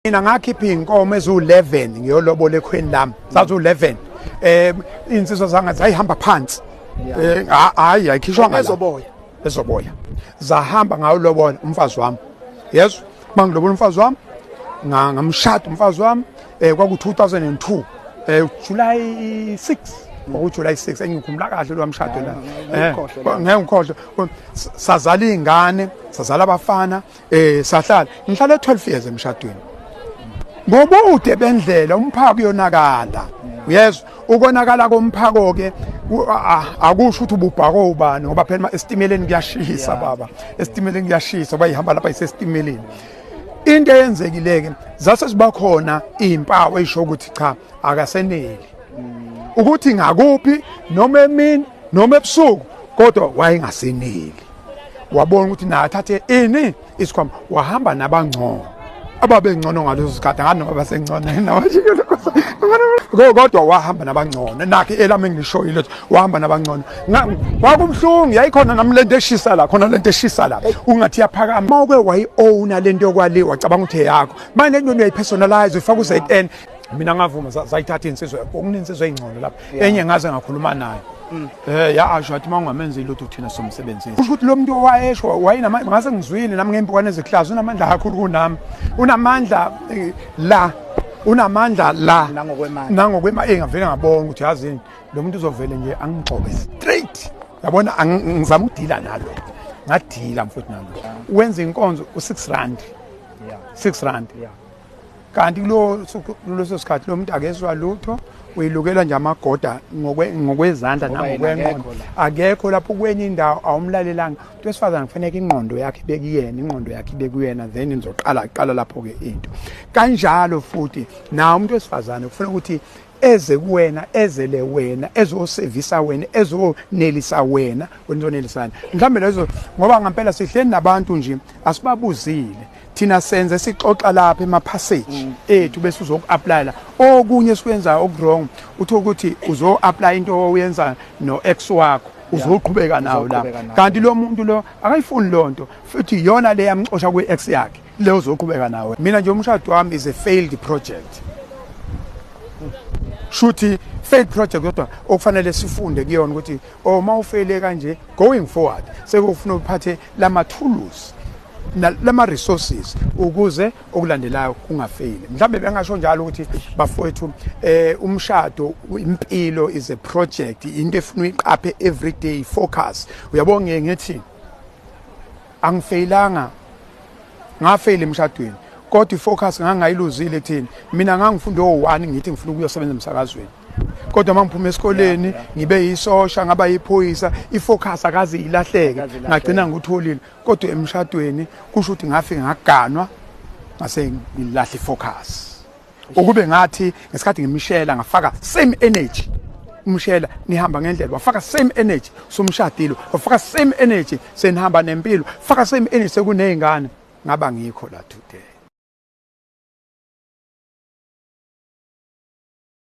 mina ngakhipha iy'nkomo eziwu-11 ngiyolobola ekhweni lami zaziwu-11 um eh, iy'nsizwa zanga zayihamba phansi eh, hhayi ayikhishwanga ezoboya zahamba ngawulobola umfazi wami yezwa uma ngilobola umfazi wami ngamshada umfazi wami um kwaku-2002 um eh, july 6 kwakujuly 6 engikhumbula kahle lo wamshado la eh, ngeke ngikhohlwe sazala iy'ngane sazala abafana um sahlala ngihlale 12 years emshadweni ngobude bendlela umphako uyonakala uyezwa ukonakala komphako-ke akusho ukuthi ububhako ubani ngoba phela esitimeleni kuyashisa baba esitimeleni kuyashisa uba ihamba lapha isesitimeleni into eyenzekile-ke zase ziba khona iy'mpawu eyisho ukuthi cha akaseneli ukuthi ngakuphi noma emini noma ebusuku kodwa wayengaseneli wabona ukuthi naye athathe ini isikhwama wahamba nabangcono ababengcono ngalezo zikhathi nganoma basengcono kodwa wahamba nabangcono nakhe elami engilishoyo lethu wahamba nabangcono kwakubuhlungu yayikhona nami lento eshisa la khona lento eshisa la ungathi yaphakama uma uke wayi-owna lento yokwali wacabanga ukuthi eyakho manje lento uyayipersonalize uyifaka u-zn mina ngavuma zayithatha insizwa okunintsizwa ey'ngcono lapho yeah. enye ngaze ngakhuluma naye mm. eh ya asho athi mawungamenzi ilutho thina somsebenzisi kusho ukuthi lo muntu owayesho wayinama ngase ngizwile nami ngempikwane eziklazi unamandla kakhulu kunami unamandla eh, la unamandla la nangokwemali nangokwemali eh, engavele ngabona ukuthi yazini lo muntu uzovele nje angigxobe straight yabona ngizama ukudila nalo ngadila mfowethu nalo wenza inkonzo u6 rand yeah 6 rand yeah kanti kuleso sikhathi lo muntu akezwa lutho uyilukelwa nje amagoda ngokwezandla nangokwenqondo akekho lapho kwenye indawo awumlalelanga umuntu wesifazane kufaneke ingqondo yakhe ibekuyena ingqondo yakhe ibekuyena then nizoqala qala lapho-ke into kanjalo futhi nawo umuntu wesifazane kufuna ukuthi eze kuwena ezele wena ezosevisa wena ezonelisa wena wena uzonelisana mhlawumbe lezo ngoba ngampela sihleli nabantu nje asibabuzile thina senze sixoxa lapha emaphasage mm. ethu bese uzoku-apply la okunye esikwenzayo okuwrong uthi ukuthi uzo-apply into oyenza no-ex wakho uzoqhubeka nawo la kanti lo muntu lo akayifuni loo nto futhi iyona le yamxosha kwi-ex yakhe le uzoqhubeka nawe mina nje umshado wami is a failed project shuthi failed project kodwa okufanele sifunde kuyona ukuthi uma oh, ufeyile kanje going forward sekufuna uphathe lamathuluzi lama resources ukuze okulandelayo kungafeyili mhlawumbe bengasho njalo ukuthi bafowethu eh umshado impilo is a project into efuna uyiqaphe every day focus uyabo ngeke ngithi angifeyilanga ngafeyile emshadweni kodwa ifocus ngangayiluzile kuthini mina ngangifunda o1 ngithi ngifuna ukuyosebenza emsakazweni kodwa uma ngiphuma esikoleni ngibe yisosha ngaba yiphoyisa ifocus akaze ilahleke ngagcina ngutholile kodwa emshadweni kusho ukuthi ngafike ngaganwa ngase ngilahle ifocus ukube ngathi ngesikhathi ngimshela ngafaka same energy umshela nihamba ngendlela wafaka same energy somshadilo wafaka same energy senihamba nempilo faka same energy sekunezingane ngaba ngikho la today